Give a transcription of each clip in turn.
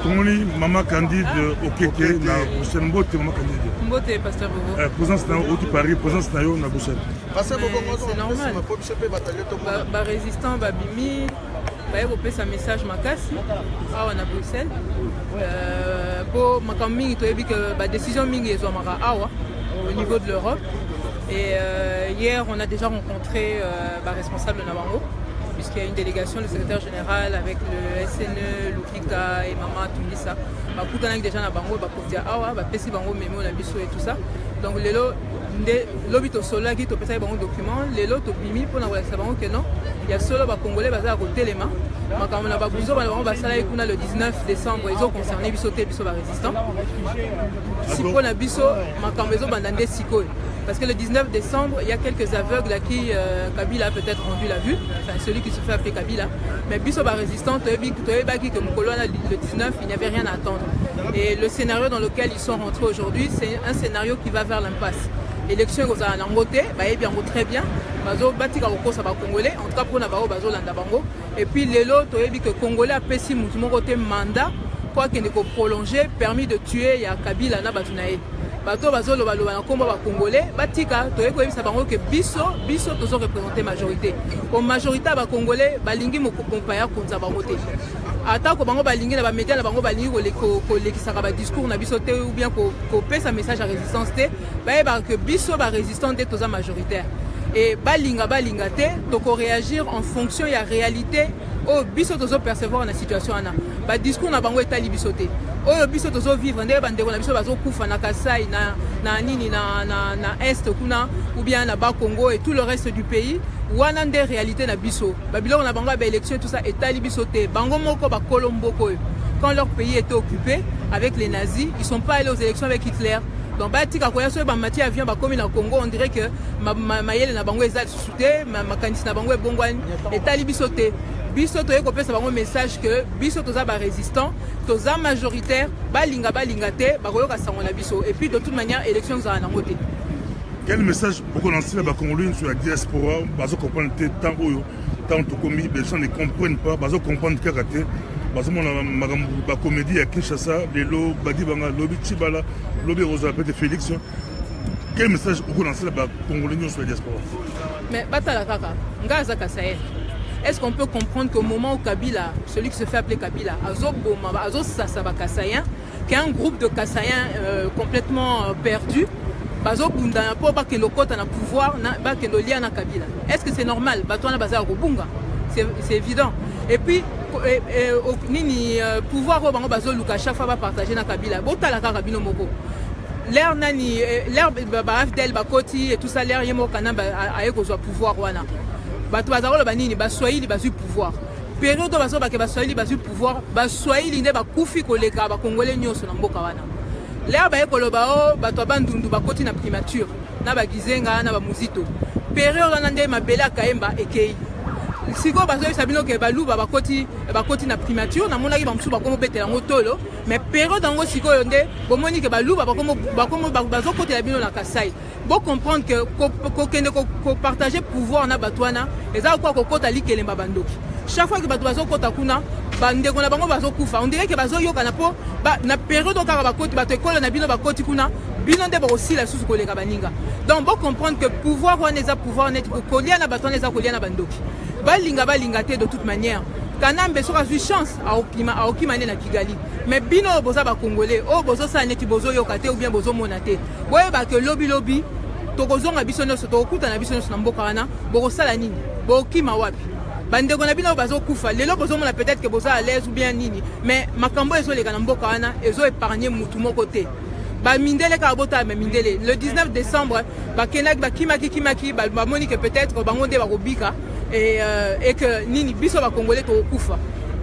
tomoni mama candide okeke na bruxelles mbote mama candide mbote pasteur bobo eh, présence na yo oti paris présence na yo na bruxelles pasteur bobo c'est normal po biso mpe batalio tomona barésistant babimi baye kopesa message makasi awa na bruxelles mpo euh, makambo mingi toyebi ke badécision mingi ezwamaka awa au niveau de l'europe et euh, hier on a déjà rencontré euh, baresponsable na bango puisqu'il y a une délégation le secrétaire général général avec le SNE, Lukika et Maman Tulisa. bakutanaki déjà na bango bakonzi ya awa bapesi bango memo na biso et tout ça donc lelo nde lobi tosololaki topesaki bango document lelo tobimi mpona kolakisa bango ke non ya solo bacongolais baza ya kotelema makambo na babuzoba na bango basalaki kuna le 19 décembre ezoconcerne biso te biso barésistant siko na biso makambo ezobanda nde sikoyo Parce que le 19 décembre, il y a quelques aveugles à qui euh, Kabila a peut-être rendu la vue, enfin celui qui se fait appeler Kabila mais biso ba résistants toyebi toyebaki que mokolo wana le 19 il n'y avait rien à attendre et le scénario dans lequel ils sont rentrés aujourd'hui c'est un scénario qui va vers l'impasse élection ekozala nango te bayebi yango très bien bazo batika kokosa bacongolais en tout cas mpona baoyo bazolanda bango et puis lelo toyebi que congolais apesi motu moko te mandat mpo akende koprolonge permis de tuer ya kabila na bato na ye bato oyo bazolobaloba na nkombo ba congolais batika toyei koyebisa bango ke biso biso tozo représente majorité po majorité ya bacongolais balingi mokompa ya konza bango te atako bango balingi na bamedia na bango balingi kolekisaka badiscours na biso te ou bien kopesa message ya résistance te bayebaka ke biso barésistant nde toza majoritaire e balinga balinga te tokoreagir en fonction ya réalité oyo biso tozo percevoir na situation wana ba discours na bango etali biso te oyo biso tozo vivre ndenge bandeko na biso bazokufa na kasai na, na nini na, na, na est kuna ou bien na bakongo et tout le reste du pays wana nde réalité na biso babiloko na bango ya baélection tout ça etali biso te bango moko bakolo mboko oyo quand leur pays était occupé avec les nazis ils sont pas allés aux élections avec hitler donc batika koya soki bamati avion bakomi na congo on dirait que mayele ma, ma na bango eza te makanisi na bango ebongwani etali biso te biso toye kopesa bango message que biso toza ba résistant toza majoritaire balinga balinga te bakoyoka sango na biso et puis de toute manière élection ezala nango te quel message okolansi na bakongoloi nyonso ya diaspora bazo comprendre te ntango oyo ntango tokomi besoin ne comprennent pas bazo comprendre kaka te bazomona makambo bacomédie ya kinshasa lelo badibanga lobi cibala lobi ekozala pete félix quel message okonansela bacongolais nyonso ya diaspora mais batala kaka ngai aza kasael est-ce qu'on peut comprendre qu'au moment où kabila celui qui se fait appeler kabila azoboma azosasa bakasayen qu'un groupe de kasayen euh, complètement euh, perdu bazobundana mpo bakende okota na pouvoir bakende olia na kabila est ce que c'est normal bato wana baza ya kobunga c'est évident et puis eh, eh, nini euh, pouvoir oyo bango bazoluka chaque fois bapartage na kabila botala kaka bino moko l'air nani eh, l'air baafdel bakoti et tout ça l'air ye moko kanambe aye kozwa pouvoir wana bato baza koloba nini baswahili bazwi pouvoir periode oyo bazobake baswahili bazwi pouvoir baswahili nde bakufi koleka bakongole nyonso na mboka wana l'air baye koloba o oh, bato ya bandundu bakoti na primature na bagizenga na bamuzito periode wana nde mabele ya kayemba ekei sikoyo bazoyebisa bino ke baluba bakoti bakoti na primature namonaki bamosusu bakomobetela yango tolo mais periode yango sikoyo nde bomoni ke baluba bazokotela bino na kasai bocomprendre ke kokende kopartage pouvoir na bato wana eza kokoa kokota likelemba bandoki chaque fois ke bato bazokota kuna bandeko na bango bazokufa ondire ke bazoyokana mpo na periode kaka bakoti bato ekolo na bino bakoti kuna bino nde bokosila lisusu koleka baninga donc bocomprendre ke pouvoir wana eza pouvoir neti kolia na bato wana eza kolia na bandoki balinga balinga te de toute manière kanambe soki azwi chance aokima aokima nde na kigali me bino oyo boza bacongolais oyo bozosala neti bozoyoka te oubien bozomona te boyeba ke lobilobi tokozonga biso nyonso tokokutana biso nyonso na mboka wana bokosala nini bokima wapi bandeko na bino oyo bazokufa lelo bozomona peut-être ke boza à l'aise ou bien nini mais makambo oyo ezoleka na mboka wana ezo épargne motu moko te ba mindele kaka botala me mindele le 19 décembre bakendaki bakimaki kimaki bamoni ke peut-être bango nde bakobika et, euh, et que nini biso bakongole tokokufa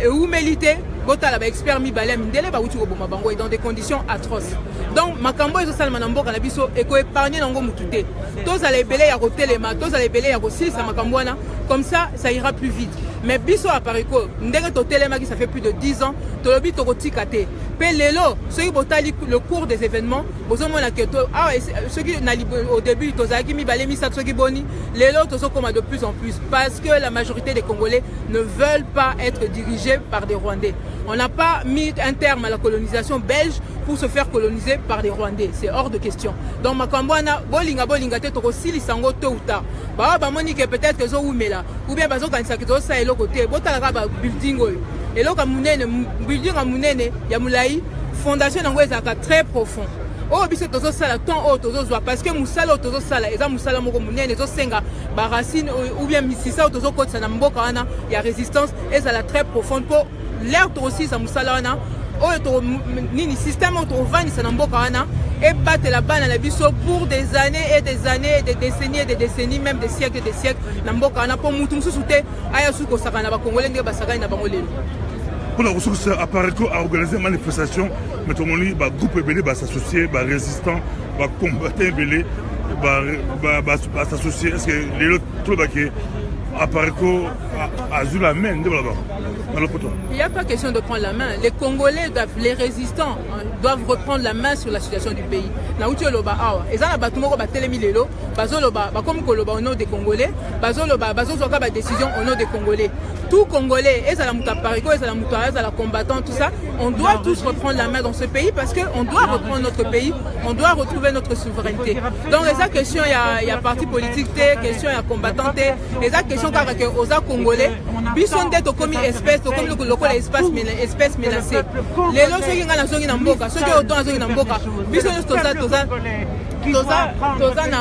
eumeli te botala baexpert mibale ya mindele bauti koboma bango e dans des conditions atroces donc makambo oyo ezosalema na mboka na biso ekoepargne nango motu te tozala ebele ya kotelema tozala ebele ya kosilisa makambo wana comme ça ça ira plus vite mais biso apariko ndenge totelemaki ça fait plus de 10 ans tolobi tokotika te Pe lelo soki botali le cours des événements bozomona ke to awa ah, soki na au début tozalaki mibale misato soki boni lelo tozokoma de plus en plus parce que la majorité des Congolais ne veulent pas être dirigés par des Rwandais. On n'a pas mis un terme à la colonisation belge pour se faire coloniser par des Rwandais. C'est hors de question. Donc makambo wana bolinga bolinga te tokosilisa yango tôt ou tard. Baoyo bamoni ke peut-être ezoumela ou bien bazokanisaka ezosa eloko te botalaka ba building oyo eloko ya monene building ya monene ya molai fondation yango ezalaka très profond oyo biso tozosala temps oyo tozozwa parce que mosala oyo tozosala eza mosala moko monene ezosenga baracine ou bien misisa oyo tozokotisa na mboka wana ya résistance ezala très profonde mpo lere tokosilisa mosala wana oyo nini système oyo tovandisa na mboka wana ebatela bana na biso pour des années et des années et des décennies et des décennies même des siècles et des siècles na mboka wana mpo motu mosusu te aya suki kosakana na bakongole ndenge basakani na bango lelo mpona kosukisa apareco aorganize manifestation me tomoni bagroupe ebele basassocie barésistant bacombatant ebele basassocie est ce que lelo tolobake apareco azwi la main nde balobaka na lopoto il y a pas question de prendre la main les congolais doivent les résistants doivent reprendre la main sur la situation du pays nauti oloba awa eza na bato moko batelemi lelo bazoloba bakomi koloba au nom des congolais bazoloba bazozwa ka badécision au nom des congolais tout congolais ezala moto ya parico ezala moto azala combattant tout ça on doit tous reprendre la main dans ce pays parce que on doit reprendre notre pays on doit retrouver notre souveraineté donc eza question ya, ya parti politique te question ya combattant te eza question kaka ke oza congolais biso nde tokomi espèce tokomi lokola espace espèce menacée lelo soki ngai nazongi na mboka soki oto azongi na mboka biso nyonso toza toza toza na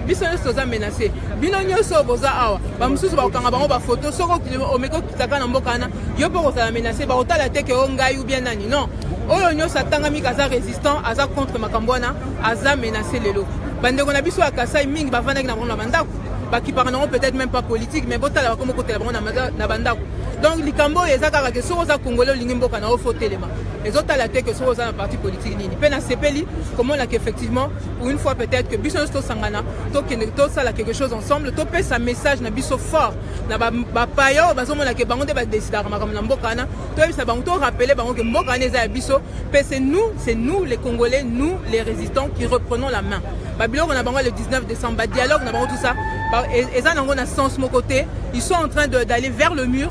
biso nyonso toza menase bino nyonso boza awa bamosusu bakokanga bango bafoto soki omeki okitaka na mboka wana yo mpe okozala menase bakotala te ke o ngai ubien nani non oyo nyonso atangami kaza résistant aza contre makambo wana aza menase lelo bandeko na biso ya kasai mingi bafandaki na bango na bandako bakipaka nango peut-être même pas politique mais botala bakomi kotela bango na bandako donc likambo oyo eza kaka ke soki oza congolais olingi mboka na yo fo telema ezotala te que soki oza na parti politique nini mpe nasepeli komona que effectivement pour une fois peut-être que biso nyonso tosangana tokende tosala quelque chose ensemble topesa message na biso fort na bapaya oyo bazomona ke bango nde badesidaka makambo na mboka wana toyebisa bango torapele bango ke mboka wana eza ya biso mpe c'est nous c'est nous les congolais nous les résistants qui reprenons la main babiloko na bango le 19 décembre badialogue na bango tout ça eza nango na sens moko te ils sont en train d'aller vers le mur